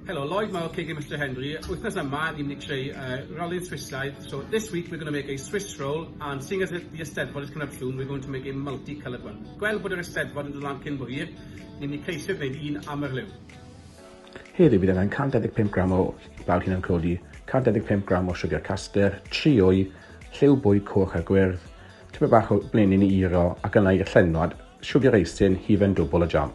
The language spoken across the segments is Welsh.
Helo, Lloyd Mawr, KG Mr Henry. Wythnos yma, ni'n mynd i creu uh, rally'r Swissaidd. So this week we're going to make a Swiss roll and seeing as the Eisteddfod is coming up soon, we're going to make a multi-coloured one. Gweld bod yr Eisteddfod yn dod lan cyn bo hir, ni'n mynd i ceisio gwneud un am yr liw. Heddiw bydd angen 125 gram o bawd hunan codi, 125 gram o siwgr caster, trio'i lliw bwyd coch a gwyrdd, tipyn bach o blenyn i iro ac yna i'r llenwad, siwgr eisin, hufen dwbl o jam.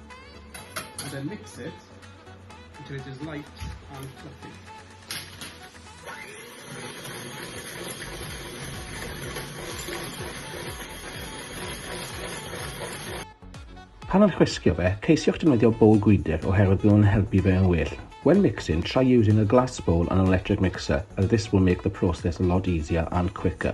And then mix it until it is light and fluffy. Pan am chwisgo fe, ceisiwch defnyddio bowl gwydr oherwydd bydd nhw'n helpu fe yn well. When mixing, try using a glass bowl and an electric mixer as this will make the process a lot easier and quicker.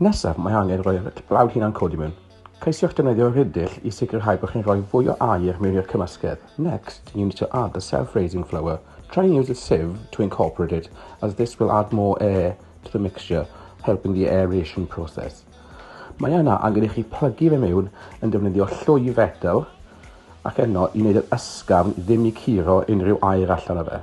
Nesaf, mae angen rhoi eich blawd hunan codi mewn. Ceisiwch defnyddio rhidill i sicrhau bod chi'n rhoi fwy o aer mewn i'r cymysgedd. Next, you need to add the self-raising flour. Try and use a sieve to incorporate it as this will add more air to the mixture, helping the aeration process. Mae yna angen i chi plygu fe mewn yn defnyddio llwy fetel ac yno i wneud yr ysgafn ddim i curo unrhyw aer allan o fe.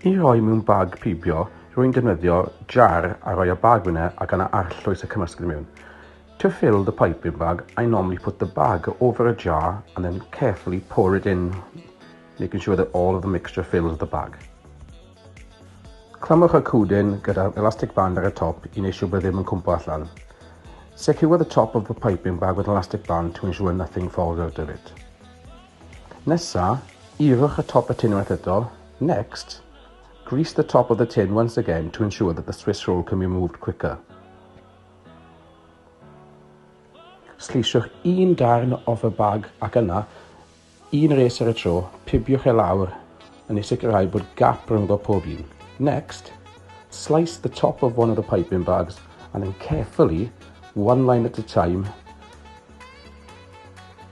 I roi mewn bag pibio, rwy'n defnyddio jar a rhoi y bag yna ac yna arllwys y cymysgedd mewn. To fill the piping bag, I normally put the bag over a jar and then carefully pour it in, making sure that all of the mixture fills the bag. Clamwch y cwdyn gyda elastic band ar y top i wneud siŵr bod e ddim yn cwmpo allan. Secure the top of the piping bag with an elastic band to ensure nothing falls out of it. Nesa, ewch at top y tin unwaith eto. Next, grease the top of the tin once again to ensure that the Swiss roll can be removed quicker. Sleisiwch un darn off y bag ac yna, un res ar y tro, pibiwch e lawr yn ei sicrhau bod gap rhyngddo pob un. Next, slice the top of one of the piping bags and then carefully, one line at a time,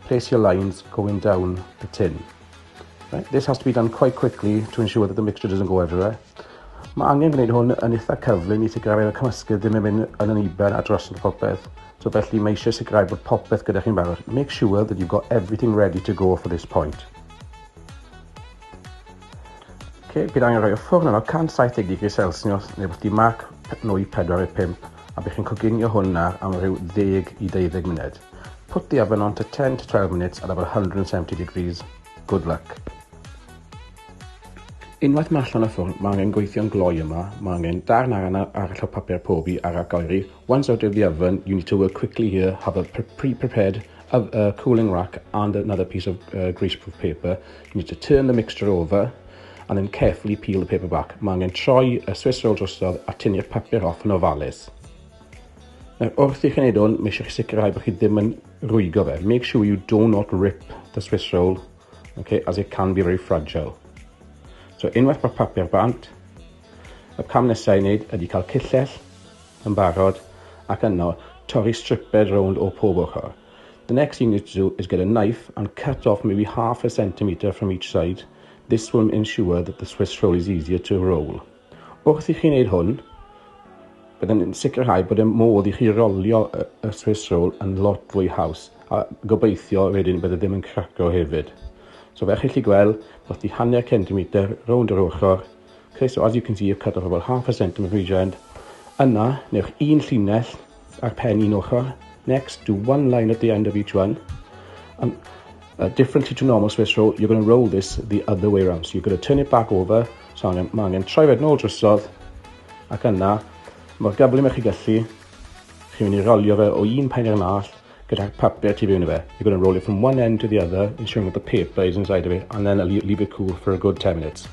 Place your lines going down the tin. Right, this has to be done quite quickly to ensure that the mixture doesn't go everywhere. Mae angen gwneud hwn yn eitha cyflym i sicrhau bod y cymysgedd ddim yn mynd yn yn iber a dros yn popeth. So felly mae eisiau sicrhau bod popeth gyda chi'n barod. Make sure that you've got everything ready to go for this point. Oce, bydd angen rhoi y ffwrn yno 170 digri Celsius neu rywbeth di marc nwy 4 i 5 a bydd chi'n coginio hwnna am rhyw 10 i 20 munud. Put the oven on to 10 to 12 minutes at about 170 degrees. Good luck. Unwaith mae allan y ffwrn, mae angen gweithio'n gloi yma, mae angen darn ar yna arall o papur pobi ar ac oeri. Once out of the oven, you need to work quickly here, have a pre-prepared of a cooling rack and another piece of uh, greaseproof paper. You need to turn the mixture over and then carefully peel the paper back. Mae angen troi y Swiss roll drosodd a tynnu'r papur off yn ofalus. Nawr, wrth i chi wneud hwn, mae eisiau chi sicrhau bod chi ddim yn rwygo fe. Make sure you do not rip the Swiss roll, okay, as it can be very fragile. So, unwaith mae'r papur bant, y cam nesaf i wneud ydy cael cyllell yn barod ac yno torri striped rownd o pob ochr. The next thing you need to do is get a knife and cut off maybe half a centimetre from each side. This will ensure that the Swiss roll is easier to roll. Wrth i chi wneud hwn, byddai'n sicrhau bod y modd i chi rolio y Swiss roll yn lot fwy haws a gobeithio wedyn byddai ddim yn craco hefyd. So fe chi chi gweld, wrth i hanner centimetr rownd yr ochr, Ok so as you can see I've cut off about half a centimetre each end. Yna, newch un llinell a'r pen un ochr. Next, do one line at the end of each one. And uh, differently to normal Swiss roll, you're going to roll this the other way around. So you're going to turn it back over. So angen, mae angen troi fe nôl drysodd. Ac yna, mor gyflym ych chi gallu, chi'n mynd i rolio fe o un pen i'r nall. gyda papur tu fewn i fe. You're going to roll it from one end to the other, ensuring that the paper is inside of it, and then leave it cool for a good 10 minutes.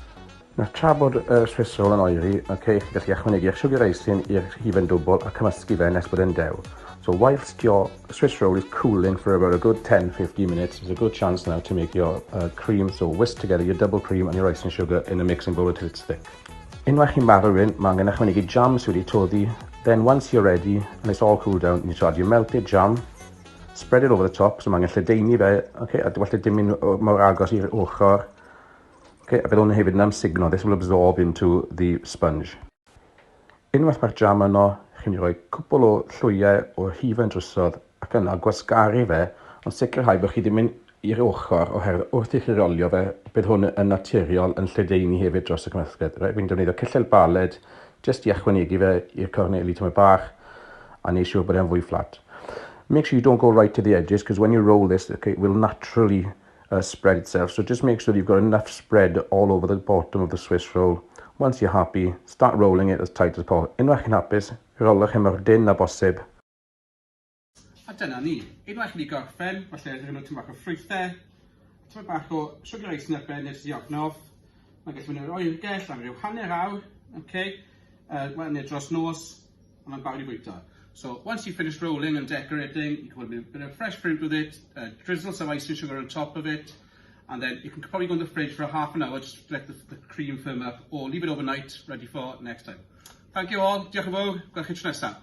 Nawr tra bod y Swiss roll yn oeri, okay, chi'n gallu ychwanegu eich siwgr eisin i'r hufen dwbl a cymysgu fe nes bod e'n dew. So whilst your Swiss roll is cooling for about a good 10-15 minutes, there's a good chance now to make your uh, cream, so whisk together your double cream and your icing sugar in a mixing bowl until it's thick. Unwaith chi'n marw un, mae angen ychwanegu jam sydd wedi toddi Then once you're ready and it's all cooled down, you need to add your melted jam, spread it over the top, so mae angen lledaenu fe, okay, a well dim yn mor agos i'r ochr. Okay, a bydd hwn hefyd yn amsugno, this will absorb into the sponge. Unwaith mae'r jam yno, chi'n mynd i roi cwpl o llwyau o hufen drysod ac yna gwasgaru fe ond sicrhau bod chi ddim yn i'r ochr oherwydd wrth i chi rolio fe bydd hwn yn naturiol yn lledaenu hefyd dros y cymysgedd. Rwy'n right, defnyddio cyllell baled jyst i ychwanegu fe i'r corneli tymed bach a neu siŵr bod e'n fwy fflat. Make sure you don't go right to the edges because when you roll this okay, it will naturally uh, spread itself so just make sure you've got enough spread all over the bottom of the Swiss roll. Once you're happy, start rolling it as tight as possible. Unwaith chi'n hapus, rolwch e mor dyn na bosib A dyna ni. Unwaith chi wedi gorffen, falle rhoi nhw tyn bach o ffrwythau, tyn bach o sugar ice neu beth nes i ofnodd. Mae'n gallu mynd i'r oergell am ryw hanner awr, okay? uh, well, neu dros nos, a mae'n barod i fwyta. So once you've finished rolling and decorating, you can put a bit of fresh fruit with it, uh, drizzle some icing sugar on top of it, and then you can probably go in the fridge for half an hour just to let the, the cream firm up, or leave it overnight, ready for next time. Thank you all, diolch yn fawr, gweld chi tro nesaf.